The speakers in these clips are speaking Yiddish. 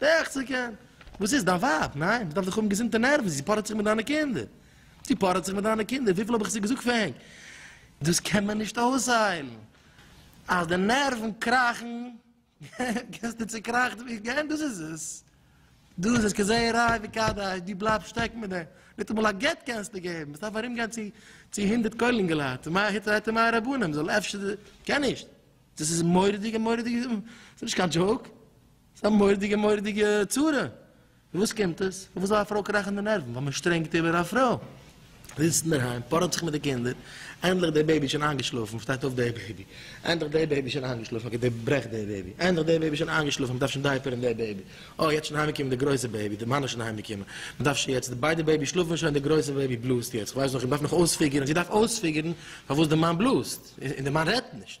דאכט זיך כן. וואס איז? דיין ווייב? ניין, מ'דארף דאך האבן געזונטע נערוון, זי פארעט זיך מיט דיינע קינדער. זי פארעט זיך מיט דיינע קינדער, וויפיל האב איך זיך געזאגט פאר ענק. דאס קען מען נישט אויסהיילן. אז די נערוון קראכן, געסטו צוקראכט ווי גענט, דאס איז עס. דא איז עס כזרעי ראי' וכדאי, דו בלייבסט שטעקן מיט דעם. ניטאמאל א גט קענסטו געבן, ס'דארף ארומגיין צו צו הונדערט כוללים געלייט, און מאי היתר היתר מאי רבנן, מ'זאל אפשר, קען נישט. דאס איז מורא'דיגע מורא'דיגע, ס'איז נישט קיין דזשאוק. ס'איז א מורא'דיגע מורא'דיגע צרה. פון וואס קומט עס? פון וואס זאל א פרוי קראכן די נערוון? ווייל מען שטרענגט איבער א פרוי. זיצט אינדערהיים, פארעט זיך מיט די קינדער, ענדליך די בעיבי שוין איינגעשלאפן, שטייט אויף די בעיבי. ענדליך די בעיבי שוין איינגעשלאפן, מ'געט די ברעכט די בעיבי. ענדליך די בעיבי שוין איינגעשלאפן, מ'דארף שוין דייפערן די בעיבי. אוי, יעצט שוין אהיימגעקומען די גרויסע בעיבי, די מאן איז שוין אהיימגעקומען. מ'דארף שוין יעצט, ביידע בעיבי שלאפן שוין, די גרויסע בעיבי בלאזט יעצט, כ'ווייס נאך, איך דארף נאך אויספיגערן, זי דארף אויספיגערן פארוואס די מאן בלאזט, און די מאן רעדט נישט.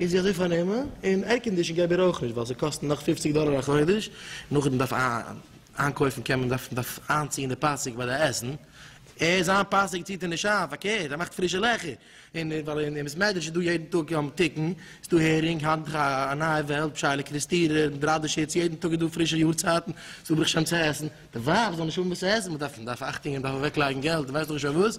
און זי האט זיי פארנומען, און ערקאנדישן געב איר אויך נישט ווייל זיי קאסטן נאך פופציג דאלער א חודש, נאכדעם דארף איינקויפן קען מען דארף דארף איינציען די פאסיק ביי די עסן, ער זיין פאסיק ציעט ער נישט איין פארקערט ער מאכט פרישע לעכער, און ווייל אין בית מדרש איז דא יעדן טאג תיקון, ס'דא הערינג היינט איז א נייע וועלט פשעי'לע קריסטירער און בראדערשיץ יעדן טאג איז דא פרישע יארצייטן, ס'דא ברוך השם צו עסן, די ווייב זאל נישט האבן וואס צו עסן, מ'דארף מ'דארף אכטונג און מ'דארף אוועקלייגן געלט און ווייסט איך נישט וואס,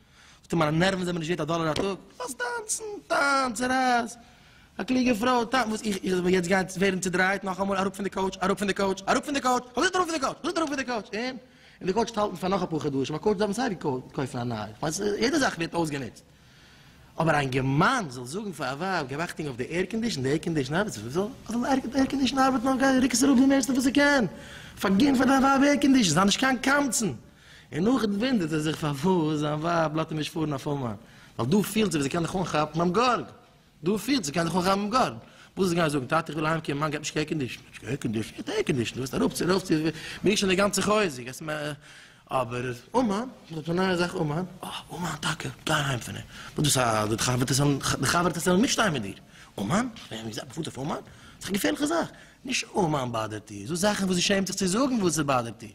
פתאום מיינע נערוון זענען מיר נישט ווערט א דאלער א טאג, לאז טאנצן, טאנץ, רייס, א קלוגע פרוי, טאנץ, וואס איך, איך זאל יעצט גיין ווערן צודרייט נאכאמאל, אראפ פון די קאוטש, אראפ פון די קאוטש, אראפ פון די קאוטש, כ'האב געזאגט אראפ פון די קאוטש, כ'האב געזאגט אראפ פון די קאוטש, און? און די קאוטש האלטן פאר נאך אפאר חדשים, א קאוטש דארף מען סיי ווי קויפן א נייע, כ'מיין יעדע זאך ווערט אויסגענוצט, אבער א אינגערמאן זאל זאגן פאר א ווייב גיב אכטונג אויף די עירקאנדישן, די עירקאנדישן ארבעט, זאל זאל די עירקאנדישן ארבעטן, אויף גיי רוק עס אראפ די מערסטע וואס איך קען, פארגין פאר דיין ווייב עירקאנדישן, זיי נישט קיין קמצן. און נאכדעם וואונדערט ער זיך פארוואס זיין ווייב לאזט אים נישט פארן אויף אומאן, ווייל דא פילט זי ווי זי קען זיך אנכאפן ביים גארג, דא פילט זי קען זיך אנכאפן ביים גארג, וואס וועסטו גיין זאגן, טאטע איך וויל אהיימקומען, מאן גייט נישט עירקאנדישן, נישט עירקאנדישן, געט עירקאנדישן, דו וועסט ארויפצו ארויפצו, מיר שוין די גאנצע חוזק, וועסט מ. אבער אומאן, מ'רעדט פון א נייע זאך אומאן, אה, אומאן טאקע, גיי אהיים פון איר, וואס דאס א, די חבר'טעס וועלן, די חבר'טעס וועלן מיטשטיין מיט דיר, אומאן, איך האב געזעהט מ'פארט אויף אומאן, ס'איז א געפערליכע זאך, נישט אומאן באדערט איר, זאג זאכן וואס זי שעמט זיך צו זאגן וואס עס באדערט איר.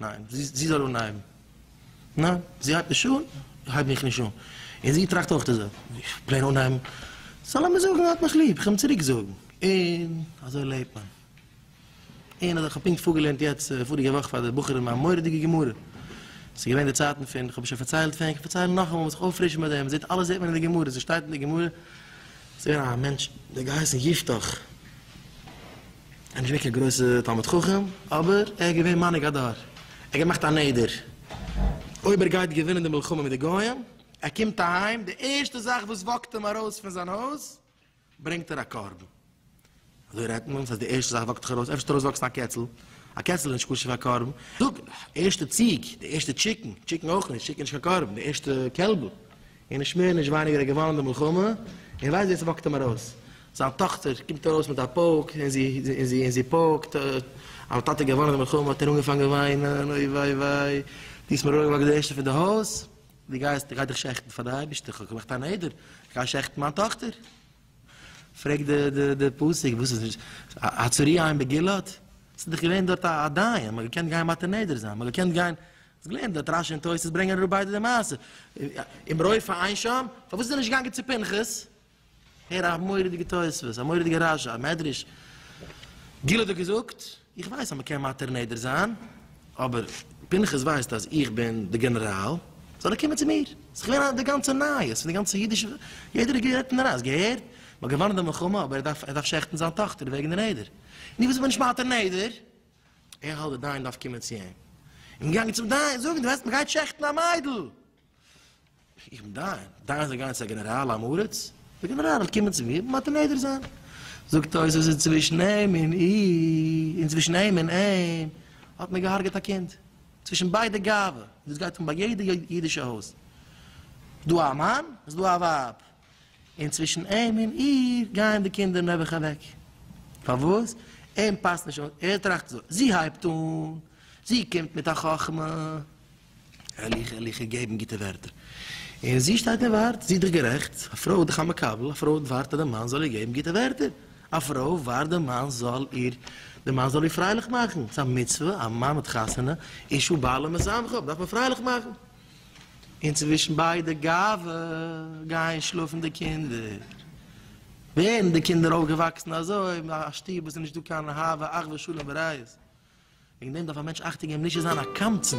ניין, זי זאל אנהייבן. ניין, זי הייבט נישט אן, הייב איך נישט אן. און זי טראכט אויך די זעלבע. איך פלען אנהייבן. סא לאמיר זאגן ער האט מיך ליב, איך וועל אים צוריק זאגן. און אזוי לעבט מען. און אז איך האב פונקט פארגעלערנט יעצט פאריגע וואך פאר די בחורים א מורא'דיגע גמרא. ס'איז געווען די צייטן פון, איך האב עס שוין פארציילט פון, איך פארצייל נאכאמאל מ'זאל זיך אויפפרישן מיט דעם. זעט אלעס זעט מען אין די גמרא, ס'שטייט אין די גמרא. ס'איז געווען א מענטש, דער געהייסן יפתח. ער איז נישט געווען קיין גרויסע תלמיד חכם, אבער ער איז געווען מנהיג הדור, ער האט געמאכט א נדר, אויב ער גייט געווינען די מלחמה מיט די גוים, ער קומט אהיים, די ערשטע זאך וואס וואקט אים ארויס פון זיין הויז, ברענגט ער א קרבן. אזוי רעדט מען, ס'הייסט די ערשטע זאך וואקט דיך ארויס, אפשר ס'וועט ארויסוואקסן א קעצל, א קעצל איז נישט כשר פאר קרבן, זאג, די ערשטע ציג, די ערשטע טשיקן, טשיקן אויך נישט, טשיקן איז נישט קיין קרבן, די ערשטע קעלבל, און נישט מער נישט ווייניגער האט געוואנען די מלחמה, און ווער ווייסט ווער ס'וואקט אים ארויס. זיין טאכטער קומט ארויס מיט א פויק, און זי, און זי, און זי פויקט, אה, אז טאטע האט געוואנען די מלחמה, האט ער אנגעפאנגען וויינען, אוי וויי וויי, דו האסט מיר אראפגעוואקט די ערשטע פון די הויז, דו גייסט, דו גייסט דיך שעכטן פאר די אייבערשטער, איך האב געמאכט א נדר, איך גיי שעכטן מיין טאכטער. פרעגט די, די, די פסוק, וואס איז דאס, הצוריה אין בגלעד? ס'איז דאך געווען דארט א, א דיין, מ'האט געקענט גיין מאטען נדר זיין, מ'האט געקענט גיין. האסט געלערנט דארט רשי און תוס' ברענגען אראפ ביידע די מעשה און ברויך פאר איין שם, פארוואס איז ער נישט געגאנגען צו פנחס? הער א מורא'דיגע תוספות, א מורא'דיגע רשי, א מדרש, גיל האט דא געזאגט, איך ווייס אז מ'קען מתיר נדר זיין, אבער פנחס ווייסט אז איך בין די גענעראל, זאל ער קומען צו מיר, ס'איז געווען א די גאנצע נייעס פון די גאנצע אידישע וועלט, יעדער האט גערעדט אין די נייעס, געהערט? מ'האט געוואנען די מלחמה אבער ער דארף ער דארף שעכטן זיין טאכטער וועגן די נדר, און איך וואס איך בין נישט מתיר נדר, איך האלט דער דיין דארף קומען צו אים. אים געגאנגען צום דיין זאגן דו ווייסט מען גייט שעכטן א מיידל. איך בין דיין, דיין זאל גיין צו א גענעראל עם הארץ? דער גענעראל זאל קומען צו מיר און מודה נדר זיין. זאגט ער אויס אז אינצווישן אים און איר, אינצווישן אים און אים, האט מען געהארגעט א קינד. צווישן ביידע גאווה, דאס גייט אן ביי יעדע אידישע הויז. דא א מאן איז דא א ווייב. און צווישן אים און איר גייען די קינדער נעבעך אוועק. פארוואס? אים פאסט נישט אויס, ער טראכט אזוי, זי הייבט אן, זי קומט מיט א חכמה, הערליכע הערליכע געבן גוטע ווערטער, און זי שטייט און ווארט, זי איז דאך גערעכט, א פרוי איז דאך א מקבל, א פרוי ווארט אז די מאן זאל איר געבן גוטע ווערטער, א פרוי ווארט די מאן זאל איר, די מאן זאל איר פרייליך מאכן, ס'איז א מצוה, א מאן האט חתונה, איש ובעלה משמחים, דארף מען פרייליך מאכן. און צווישן ביידע גאווה גייען שלאפן די קינדער, ווערן די קינדער אויפגעוואקסן אזוי אין א שטוב וואס איז נישט דא קיין אהבה אחווה שלום ורעות, וועגן דעם דארף א מענטש אכטונג געבן נישט צו זיין א קמצן.